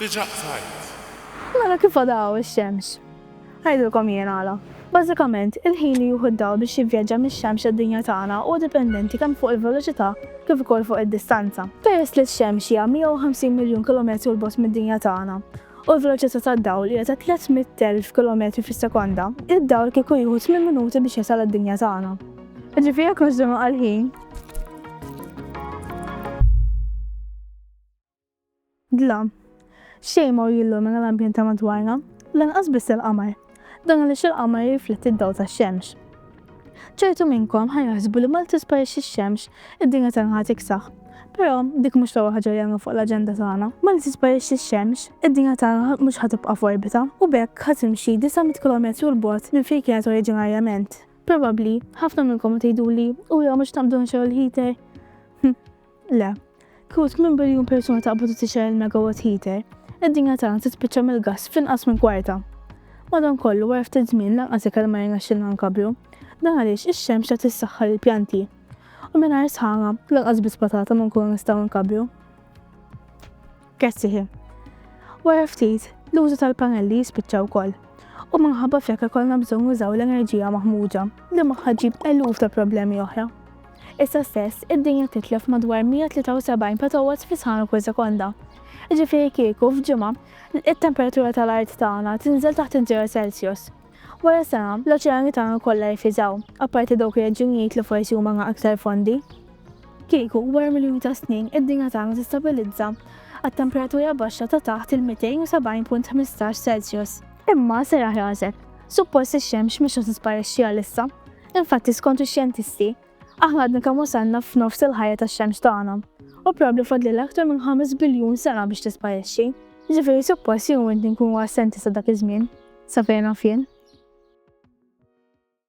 Diġà qtajt. Nara kif għadha hawn ix-xemx. Ngħidilkom jien għala. Bażikament, il-ħin li jieħu d-dawl biex jivvjaġġa mix-xemx għad-dinja tagħna huwa dipendenti kemm fuq il-veloċità kif ukoll fuq id-distanza. Peress li x-xemx hija 150 miljun kilometru 'l bogħod mid-dinja tagħna u l-veloċità tad-dawl hija ta' 300,000 kilometri fis-sekonda, id-dawl kieku jieħu tmien minuti biex jasal għad-dinja tagħna. Jiġifieri jekk nżżommu għall-ħin. Dlam. Xejn ma hu jillumina l-ambjent ta' madwarna, lanqas biss il-qamar. Dan għaliex il-qamar jirrifletti d-dawl tax-xemx. Ċertu minnkom ħa jaħsbu li malli tisparixxi x-xemx, id-dinja tagħna ħa tiksaħ. Però, dik mhux l-ewwel ħaġa li għandna fuq l-aġenda tagħna. Malli tisparixxi x-xemx, id-dinja tagħna mhux ħa tibqa' f'orbita, u b'hekk ħa timxi disa' mitt kilometru 'l bogħod minn fejn kienet oriġinarjament. Probabbli, ħafna minnkom ħa tgħiduli, Ura, mhux taqbdu nxegħlu l-heater? Hm. Le. Kieku 8 biljun persuna taqbad u tixgħel il-megawatt heater, id-dinja tagħna tispiċċa mill-gass f'inqas minn kwarta. Madankollu, wara ftit żmien lanqas ikel ma jirnexxilna nkabbru. Dan għaliex ix-xemx tagħti s-saħħa lill-pjanti. U mingħajr sħana, lanqas biss patata ma nkunu nistgħu nkabbru. Grazzi ħin. Wara ftit, l-użu tal-pannelli jispiċċa wkoll, u minħabba f'hekk ikollna bżonn nużaw l-enerġija maħmuġa, li magħha ġġib eluf ta' problemi oħra. Issa stess, id-dinja titlef madwar 173 petowatts fi sħana kull sekonda. Jiġifieri kieku f'ġimgħa, it-temperatura tal-art tagħna tinżel taħt iż-żero Celsius. Wara sena, l-oċeani tagħna kollha jifriżaw, apparti dawk ir-reġjunijiet li forsi huma aktar fondi. Kieku, wara miljuni ta' snin, id-dinja tagħna tistabilizza għat-temperatura baxxa ta' taħt il-270.15 Celsius. Imma serraħ rasek. Suppost ix-xemx mhix se tisparixxi għalissa. Infatti, skont ix-xjentisti, Aħna għadna kemm wasalna f'nofs il-ħajja tax-xemx tagħna, u probabbli fadlilha aktar minn ħames biljun sena biex tisparixxi. Jiġifieri suppost jien u inti nkunu assenti sa dak iż-żmien, sa fejn naf jien.